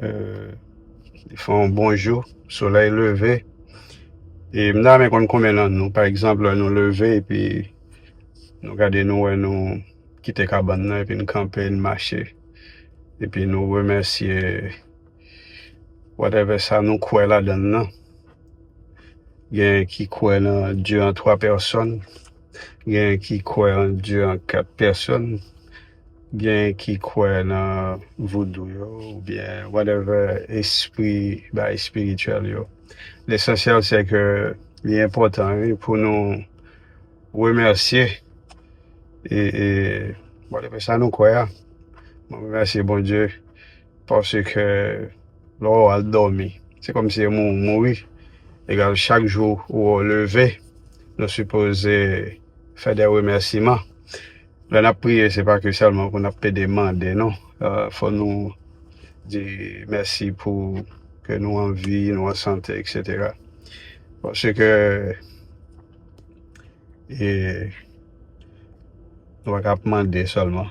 Li fè yon bon jou, solèy leve. E m ta renmen konn konbyen nan nou, pa egzanp, lè nou leve epi nou gade nou wè nou kite kabann nan epi n kanpe, n mache. Epi nou remèsye whatevè sa nou kwè ladann nan. Genyen ki kwè nan Dye an twa pèsòn, genyen ki kwè an Dye an kat pèsòn. Gen ki kwè nan voudou yo ou byen whatever espri bay spirituel yo. Lesansyèl se ke li enpòtan wi pou nou remèsye e e whatever sa nou kwè a. Mwen remèsye Bondye. Paske lè ou al dòmi, se kòm si anmou ou mouri. Egal chak jou ou leve, nou sipoze fè de remèsiman. Lè n ap priye, se pa ke sèlman pou n ap plede mande non. Fò nou di mèsi pou ke nou an vi, nou an sante, eksetera. Paske nou pa ka ap mande sèlman.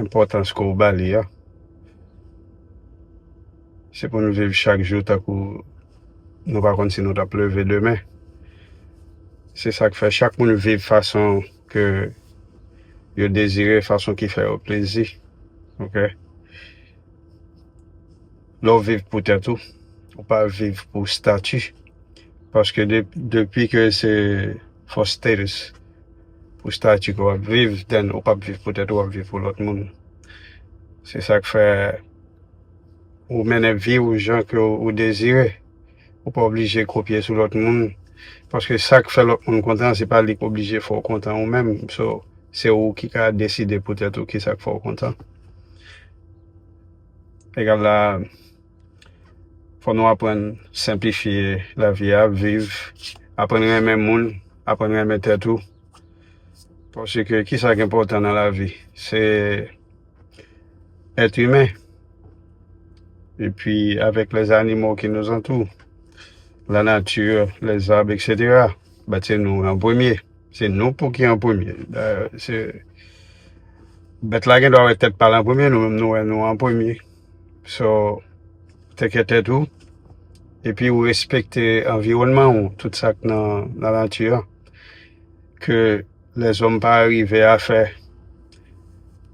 Enpòtans ke w ba li a. Se pou n viv chak jou tankou nou pa konn si nou t ap leve demen. Se sa k fè chak moun viv fason ke yo dezire, fason ki fè yo plezi. Ok. Lè w viv pou tèt ou, ou pa viv pou stati. Paske depi ke se for status. Pou statut ke wap viv then ou pap viv pou tèt ou wap viv pou lòt moun se sak fè ou mennen vi ou jan ke ou dezire ou pa oblije kopye sou lòt moun paske sak fè lòt moun kontan se pa li ki oblije fè ou kontan ou menm so se ou ki ka deside pou tèt ou kisak fè ou kontan egal la. Fò nou aprann senplifye lavi a, ap viv, aprann renmen moun, aprann renmen tèt ou. Paske ki sa ki enpòtan nan lavi? Se èt imen. E pi avèk lè zanimo ki nou zantou, la nati, lè zab, eksetera, bat se nou an premye. Se nou pou ki an premye. Dayè, se bèt la gen dwa wè tèt pa l an premye, nou menm nou wè nou an premye. So teke tèt ou epi ou respekte anviwònman ou tout sak nan nan nati an ke lèzòm pa arive a fè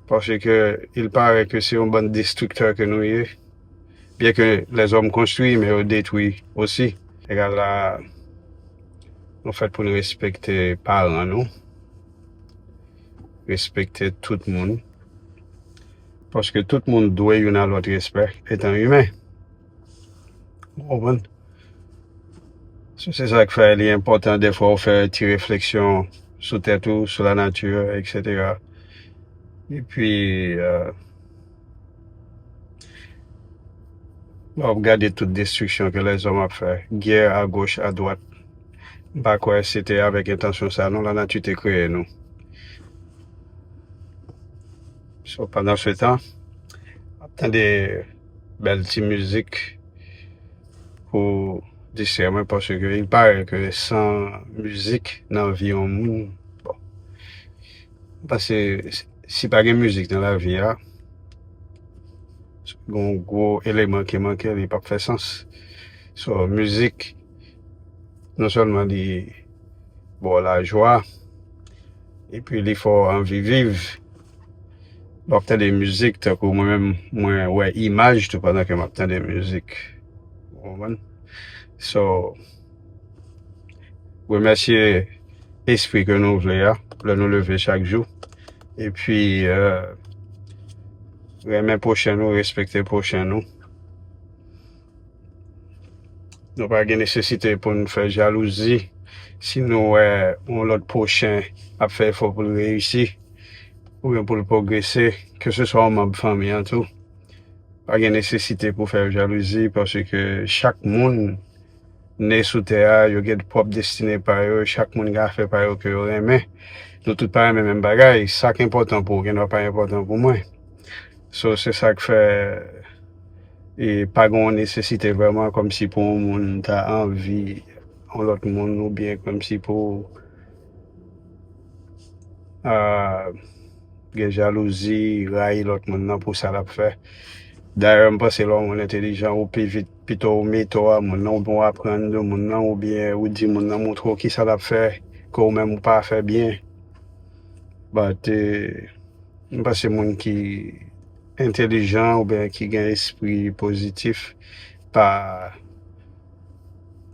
paske il pare ke se yon bann destriktè ke nou ye byen ke lèzòm konstwi men yo detwi osi. Egal la nou fèt pou nou respekte paran nou respekte tout moun. Paske tout moun dwe youn a lòt respè etan imen. Ou konprann? So se sa k fè li enpòtan defwa ou fè ti refleksyon sou tèt ou, sou lanati, eksetera. Epi lè w ap gade tout destriksyon ke lèzòm ap fè, gè agoch, adwat, m pa kwè se te avèk entansyon sa non lanati te kreye nou. So pandan se tan, ap tande bèl ti mizik pou distrè mwen paske il pare ke san mizik nan vi yon moun, bon, m panse si pa gen mizik nan lavi a, si gen yon gwo eleman ki manke li pap fè sans. So mizik non sèlman li ba w lajwa. Epi li fè w anvi viv. Lè w ap tande mizik tankou mwen menm mwen wè imaj tou pandan ke m ap tande mizik. Ou konprann? So, remèsye espri ke nou vle a lè nou leve chak jou. Epi renmen pwochen nou, respekte pwochen nou. Nou pa gen nesesite pou n fè jalouzi si nou wè yon lòt pwochen ap fè efò pou l reyisi oubyen pou l pwogrese, keseswa yon manb fanmi an tou. Pa gen nesesite pou w fè yo jalouzi paske chak moun ne sou tè a, yo gen pwòp destine pa yo, chak moun gen afè pa yo ke yo renmen. Nou tout pa renmen menm bagay, sa k enpòtan pou ou gendwa pa enpòtan pou mwen. So, se sa k fè. E pa gen yon nesesite vrèman kòmsi pou yon moun ta anvi yon lòt moun oubyen kòmsi pou gen jalouzi, rayi lòt moun nan pou sa l ap fè. Dayè m panse lè yon moun entelijan ou pi vit pito ou mete w a moun nan oubyen w aprann de moun nan oubyen ou di moun nan montre w kisa l ap fè ke ou menm ou pa fè byen. But, m panse moun ki. entelijan oubyen ki gen espri pozitif pa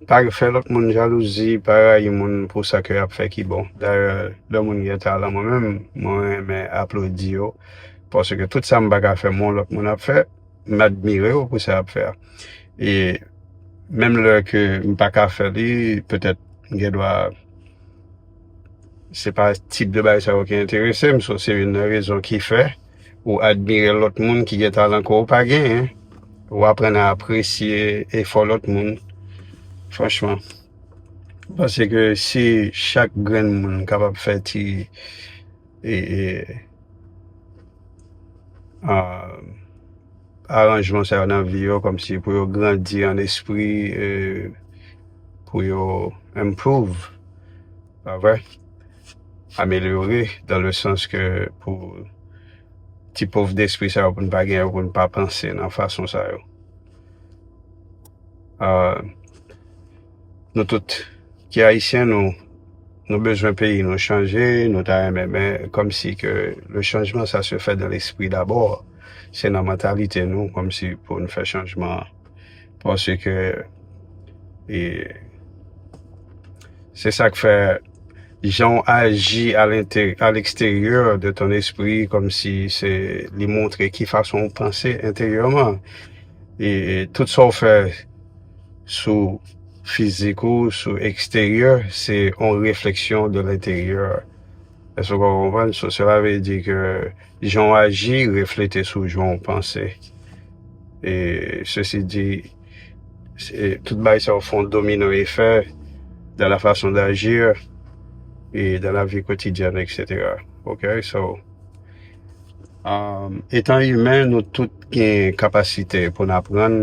pa fè lòt moun jalouzi, pa rayi moun pou sa ke y ap fè ki bon. Dayè, lè moun gen talan mwen menm, mwen renmen aplodi yo paske tout sa m pa ka fè men yon lòt moun ap fè, m admire yo pou sa y ap fè a. E menm lè ke m pa ka fè li petèt m gen dwa. Se pa tip de bagay sa yo ki enterese m, so se youn nan rezon ki fè ou admire lòt moun ki gen talan ke w pa genyen. Ou aprann a apresye efò lòt moun. Franchman. M panse ke si chak grenn moun kapab fè ti e e aah. aranjman sa yo nan vi yo kòmsi pou yo grandi an espri e pou yo improve pa vre amelyore dan le sans ke pou ti pov despri sa yo pou n pa gen yo pou n pa panse nan fason sa yo. Nou tout ki ayisyen nou nou bezwen peyi nou chanje, nou ta renmen men kòm si ke le changement ça se fait dans l'esprit d'abord, se nan mantalite nou kòm si pou nou fè chanjman an. Pase ke e se sak fè jan w aji a lente a leksteryè de ton espri kòm si se li montre ki fason w panse enteryèman e tout sa w fè sou fizik ou, sou eksteryè, se yon refleksyon de lenteryè. Èske w konprann? So, sela vle di ke jan w aji reflete sou jan w panse. E, sesi di, se, tout bagay sa yo fè yon domino efè dan la fason d'agir e dan la vi kotidyèn eksetera. Ok? So, etan imen nou tout gen kapasite pou n aprann.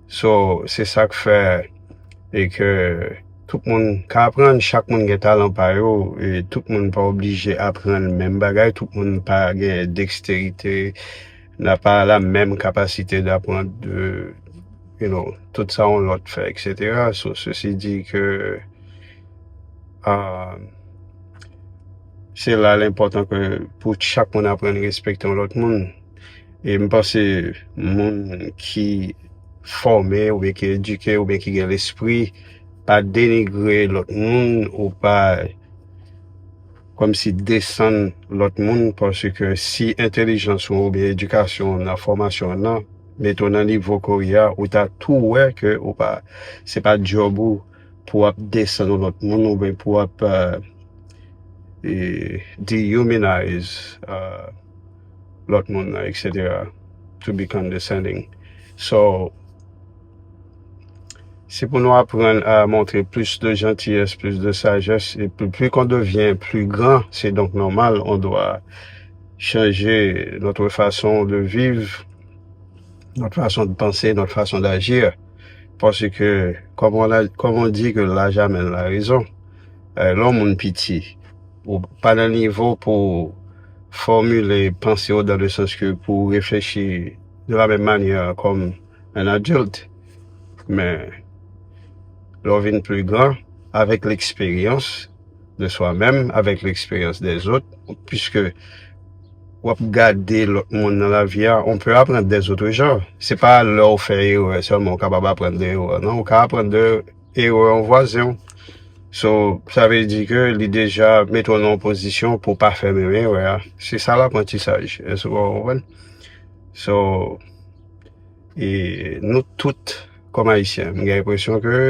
So se sak fè e ke tout moun ka aprann, chak moun gen talan pa yo e tout moun pa oblije aprann menm bagay, tout moun pa gen deksterite nan pa la menm kapasite d'aprann de you know tout sa yon lòt fè eksetera. So sesi di ke aah se la l enpòtan ke pou chak moun aprann respekte yon lòt moun. E m panse moun ki fòme oubyen ki edike oubyen ki gen lespri pa denigre lòt moun ou pa kòmsi desann lòt moun paske si entelijans ou oubyen edikasyon w nan fòmasyon w nan mete w nan nivo ke w ye a ou ta tou wè ke ou pa se pa djòb ou pou w ap desann yon lòt moun oubyen pou w ap dehumanize lòt moun nan etc to be condescending so se pou nou aprann a montre plis de jantiyès plis de sajès e pli kon devyen pli gran se donk nòmal on dwa chanje notre fason de viv notre fason de panse notre fason d'agir pase ke kòm on a kòm on di ke laj amèn la rezon lè on moun piti ou pa nan nivo pou fòmile panse w dan le sans ke pou w reflechi de la menm manyè kòm un adulte men lè w vin pli gran avèk leksperyans de swa menm, avèk leksperyans dè zòt puiske w ap gade lòt moun nan la vi a on pè aprann dè zotre jan se pa lè w fè erè sèlman ou kapab aprann de erè w nan ou ka aprann de E ou yon vwazen w. So, sa vle di ke li deja mete w nan yon pozisyon pou w pa fè menm erè a. Se sa laprantisaj. Èske ou konprann? So, e nou tout kòm Ayisyen, m gen enpresyon ke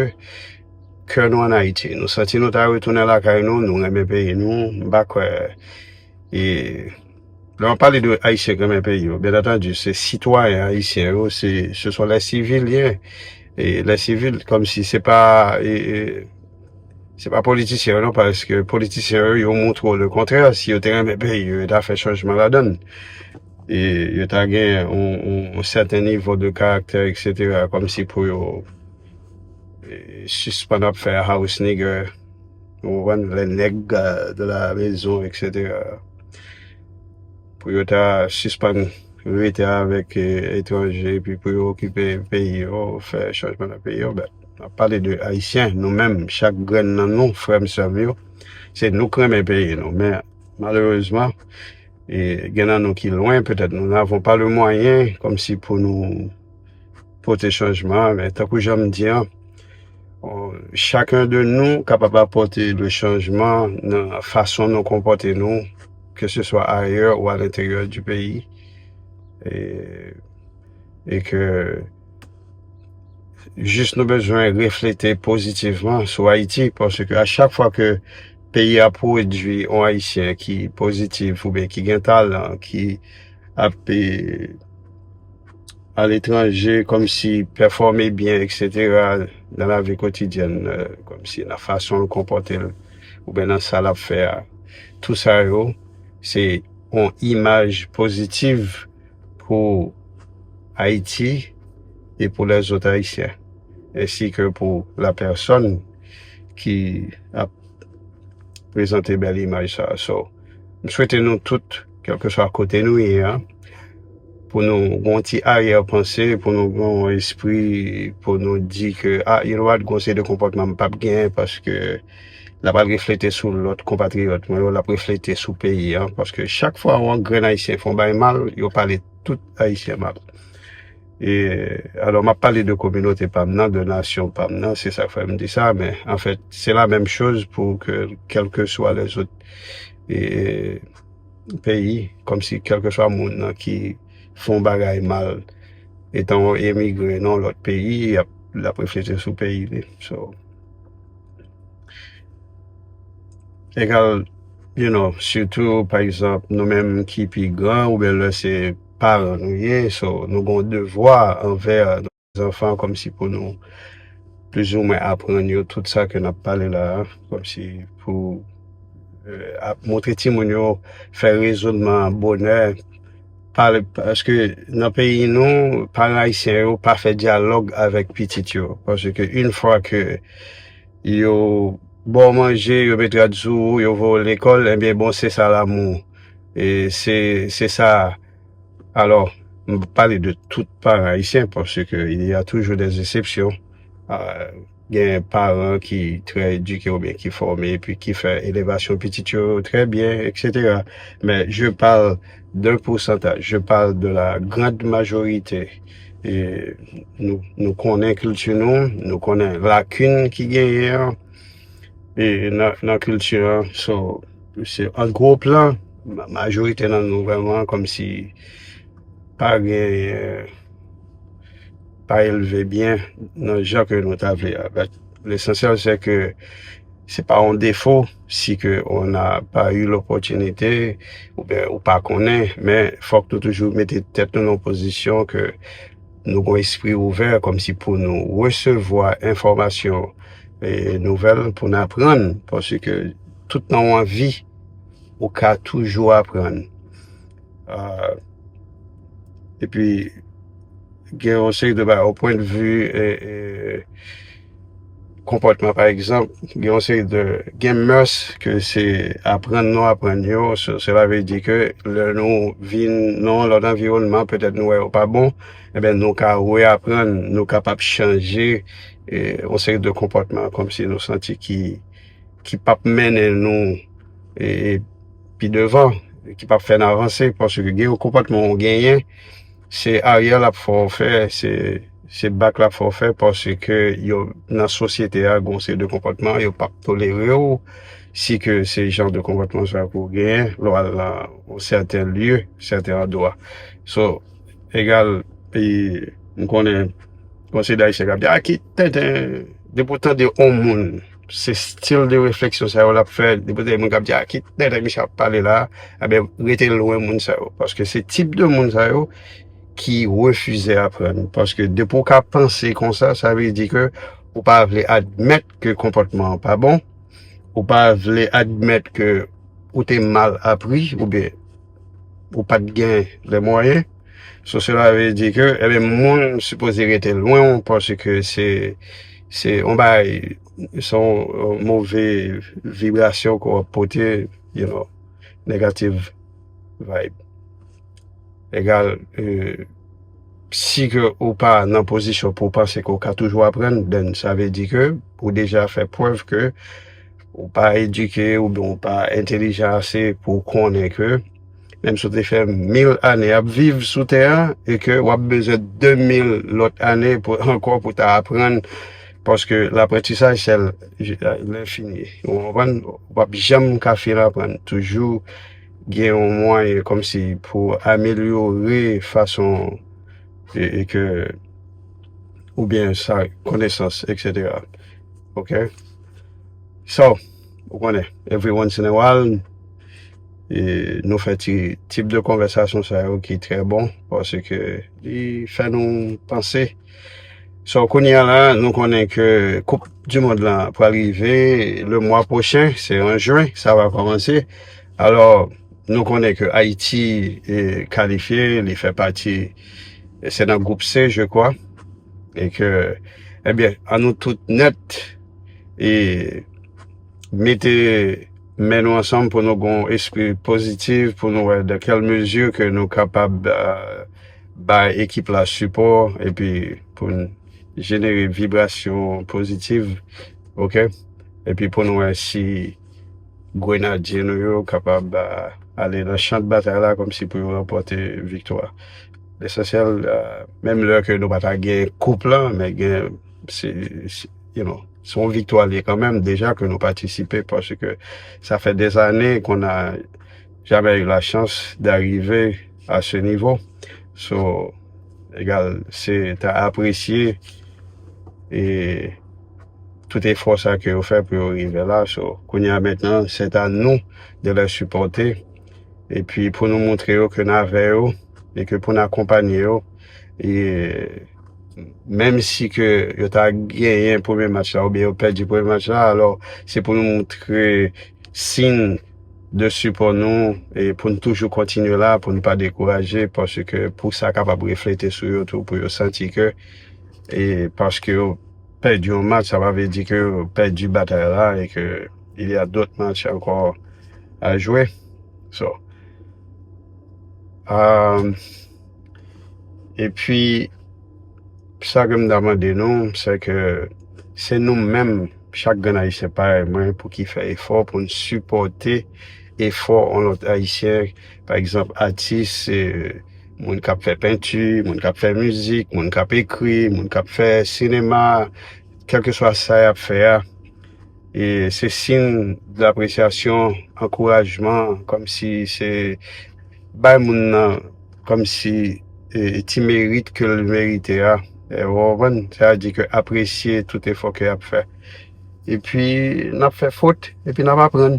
kè nou an Ayiti. Nou santi nou ta retounen lakay nou, nou renmen peyi nou. M pa kwè e. Lè wap pale de Ayisyen k renmen peyi yo, byen antandi se sitwayen Ayisyen yo, se se son lè sivilyen, e lè sivil kòm si se pa e e se pa politisyen yo non paske politisyen yo yo montre w le kontrè, si yo te renmen peyi yo, yo ta fè chanjman ladann. E yo ta gen yon yon sèten nivo de karaktè eksetera kòm si pou yo e sispann ap fè house nigger ou konprann lè nèg de la mezon eksetera. pou yo ta sispann rete avèk etranje epi pou yo okipe peyi yo, fè chanjman nan peyi yo, bèt. N ap pale de Ayisyen, nou menm, chak grenn nan nou, frè m, sè m yo, se nou k renmen peyi nou. Men, malerezman, gen nan nou ki lwen, petèt nou n avon pa le mwayen, kòmsi pou nou. pote chanjman an, men tankou jan m di an, chakun de nou kapab apote le chanjman nan fason nou konpote nou, ke se swa ayè ou a lenteryè di peyi, e ke jis nou bezwen reflete pozitivman sou Ayiti, pase ke a chak fwa ke peyi a pwodui on Ayisyen ki pozitiv, oube ki gen talan, ki ap e... aletranje kòmsi pèfòme byen eksetera nan lavi kotidyèn kòmsi nan fason l konpòte l oubyen nan sa l ap fè a tou sa yo se yon imaj pozitiv pou Ayiti e pou lèzòt ayisyen ensi ke pou la pèsòn ki ap prezante bèl imaj sa a so m swete nou tout kèlkeswa kote nou ye a. Pou nou gen yon ti aryè panse, pou nou gen yon espri, pou nou di ke a, you know what, gen yon seri de konpòtman m pap gen paske la pral reflete sou lòt konpatriyòt mwen yo, l ap reflete sou peyi an. Paske chak fwa yon grenn Ayisyen fè yon bagay mal, yo pale tout Ayisyen mal. E, alò m ap pale de kominote pa m nan, de nasyon pa m nan, se sa k fè m di sa, men anfèt se la menm choz pou ke kèlkeswa lèzot e. peyi kòmsi kèlkeswa moun nan ki fè yon bagay mal etan yon emigre nan yon lòt peyi lap reflete sou peyi li so egal you know sitou pa egzanp nou menm ki pi gran oubyen lè se paran nou ye so nou gen yon devwa anvè Zanfan komsi pou nou plizoumwen aprann yo tout sa ke nap pale la a, komsi pou ap montre timoun yo fè rezonman an bonè, pale paske nan peyi nou paran ayisyen yo pa fè dyalòg avèk pitit yo paske yn fwa ke yo ba w manje, yo met rad sou ou, yo voye w lekòl, enbyen bon se sa lanmou e se sa. Alors, nou pa pale de tout paran ayisyen pase ke il ya toujou dè esepsyon. Gen paran ki trè edike ou byen ki fòme e pi ki fè elevasyon pitit yo trè byen eksetera. Men je pale de pousantaj, je pale de la grand majorite e nou konnen kilti nou, nou konnen lakin ki genyen an e nan kilti an. Mesye an gwo plan majorite nan nou vreman kom si pa gen pa elve byen nan jan ke nou ta vle a but lesansyèl se ke se pa yon defo si ke on a pa yu lopotinite oubyen ou pa konnen men fok nou toujou mete tèt nou nan pozisyon ke nou gon espri ouvè kom si pou nou resevwa enfomasyon e nouvel pou n aprann posi ke Tout nan yon vi, ou ka toujou aprann. E pi, gen yon seri de bagay, ou pwen de vi, konpòtman pa egzanp, gen yon seri de, gen mès ke se aprann nou aprann yo, se la ve di ke lè nou vin nan yon lòt anviwònman, petèt nou wè yo pa bon, e ben nou ka re aprann, nou kapab chanje yon seri de konpòtman, kòm si nou santi ki. ki pap mennen nou e pi devan ki pap fè n avanse paske gen yon konpòtman ou genyen se aryè l ap fè w fè se bak l ap fè w fè paske yo nan sosyete a gen yon seri de konpòtman yo pap tolere w si ke se jan de konpòtman sa pou w genyen lè w al nan yon sèten lye sèten andwa so egal e m konnen yon seri dayisyen k ap di a ki tenten depi w tande yon moun Se stil de refleksyon sa yo l ap fè. Li pou te gen moun k ap di a ki tenten misye ap pale la a. Ebyen, rete lwen moun sa yo. Paske se tip de moun sa yo ki refize aprann. Paske depi w ka panse konsa, sa vle di ke ou pa vle admèt ke konpòtman an pa bon. Ou pa vle admèt ke ou te mal apri oubyen ou pa t gen lè mwayen. So sela vle di ke ebe moun sipoze rete lwen ou paske se se yon bagay se yon move vibrasyon ke w ap pote you know negative vibe egal si ke ou pa nan pozisyon pou w panse ke w ka toujou aprann den sa vle di ke ou deja fè prèv ke ou pa edike oubyen ou pa entelijan ase pou w konnen ke Menm si w te fè mil ane ap viv sou tè a e ke w ap bezwen de mil lòt ane pou ankò pou ta aprann paske laprantisaj se lenfini ou konprann w pap janm ka fin aprann toujou gen yon mwayen kòmsi pou amelyore fason e ke oubyen sa konesans eksetera ok so. Ou konnen, every once in a while, nou fè ti tip de konvèsasyon sa yo ki trè bon, paske li fè nou panse. So kounye a la, nou konnen ke koup di mond la pral rive le mwa pwochen, se an jwen sa va kòmanse. Alò, nou konnen ke Ayiti kalifye, li fè pati, se nan gwoup se je kwa, e ke, ebyen, an nou tout nèt. e mete men nou ansanm pou nou gon espri pozitiv pou nou wè dan kèl mezi ke nou kapab bay ekip la sipò epi pou n jenere vibrasyon pozitiv ok epi pou nou wè si grenadye nou yo kapab ale nan chan de batay la kòmsi pou yo ranpòte viktwa lesansyèl menm lè ke nou pa ta gen koup lan men gen se yon viktwa liye kanmenm deja ke nou patisipe pwase ke sa fè de zane kon a jamè yon la chans da rive a se nivo so egal se ta apresye e tout e fò sa ke yo fè pou yo rive la so kounye a mentenan se ta nou de lè sipote e pi pou nou montre yo ke na vè yo e ke pou na konpanye yo e menm si ke yo ta genyen premye match la oubyen yo pèdi premye match la, alò se pou nou montre siyn de sipò nou e pou nou toujou kontinye la, pou nou pa dekouraje paske pou sa kapab reflete sou yo tou pou yo santi ke e paske yo pèdi yon match sa pa vle di ke yo pèdi batay la e ke il ya dot match ankò a jwe so, aahh. E pi, sa ke m ta mande nou, se ke se nou menm, chak grenn Ayisyen parèy mwen, pou ki fè efò pou n sipòte efò yon lòt Ayisyen, pa egzanp, atis, moun k ap fè penti, moun k ap fè mizik, moun k ap ekri, moun k ap fè sinema, kèlkeswa sa y ap fè a. E se sin lapresyasyon, ankourajman, kòm si se bay moun nan kòm si ti merit ke l merite a. Ou konprann? Sa vle di ke apresye tout efò ke y ap fè. E pi n ap fè fot, e pi n ap aprann.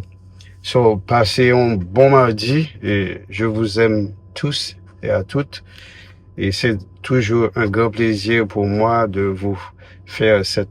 So, pase yon bon madi, e je vous aime tous et à toutes. E se toujou un gran plezi pou mwa de vous fè sèt.